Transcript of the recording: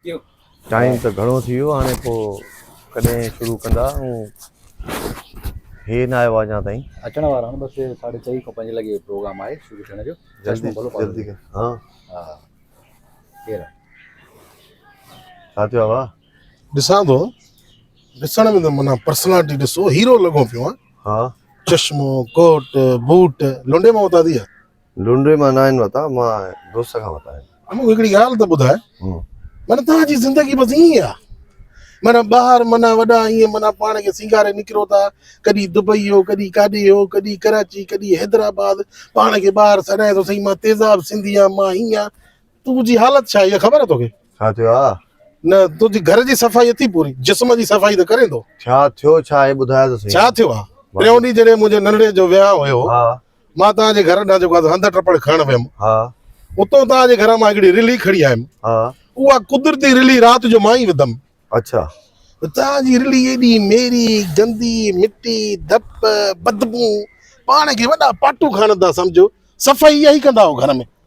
ٿيو. ٽائيم ته گهڻو ٿي ويو هاڻي پو ڪڏهن شروع ڪندا ائون هي نه آيو آ اڃا تائين. اچڻ وارا آهن بس ساڍي چئي کان پنج لڳي پروگرام آهي شروع ٿيڻ جو جلدي جلدي ها ها ڪير ڇا ٿيو آ وا ڏسان ٿو ڏسڻ ۾ ته منا پرسنالٽي ڏسو هيرو لڳو پيو آ ها چشمو ڪوٽ بوٽ لونڊي مون اتان ٿي آ لنڊي مان ناهن وتا مان دوست کان وتا آهن. مونکي هڪڙي ڳالهه ته ٻڌاء معنيٰ توهان جي زندگي بس ائين ئي آ معنيٰ ٻاهر معنيٰ وڏا ائين معنيٰ پاڻ کي سينگاري نڪرو ٿا ڪڏهن دبئي هو ڪڏهن ڪاڏي هو ڪڏهن ڪراچي ڪڏهن حيدرآباد پاڻ کي ٻاهر سڏائين ٿو سائين مان تيزاب سنڌي آ مان هيئن آ تنهنجي حالت ڇا اها خبر آ توکي ڇا ٿيو آ نه تنهنجي گهر جي صفائي اٿي پوري جسم جي صفائي ته ڪرين ٿو ڇا ٿيو ڇا آهي ٻڌاء ته سهي ڇا ٿيو آ ٽيون ڏينهن جڏهن منهنجي ننڙي جو ويهانء هيو مان توهان جي گهر ڏانهن جيڪو آهي هنڌ ٽپڙ کڻڻ ويم. اتو توهان جي گهر مان هڪڙي رلي کڻي آيم. اها قدرتي رلي رات جو مان ئي وڌم. توهان جي رلي ايڏي ميري، گندي، مٽي، ڌپ، بدبو، پاڻ کي وڏا پاٽو کڻن ٿا سمجهو، صفائي اها ئي ڪندا آهيو گهر ۾.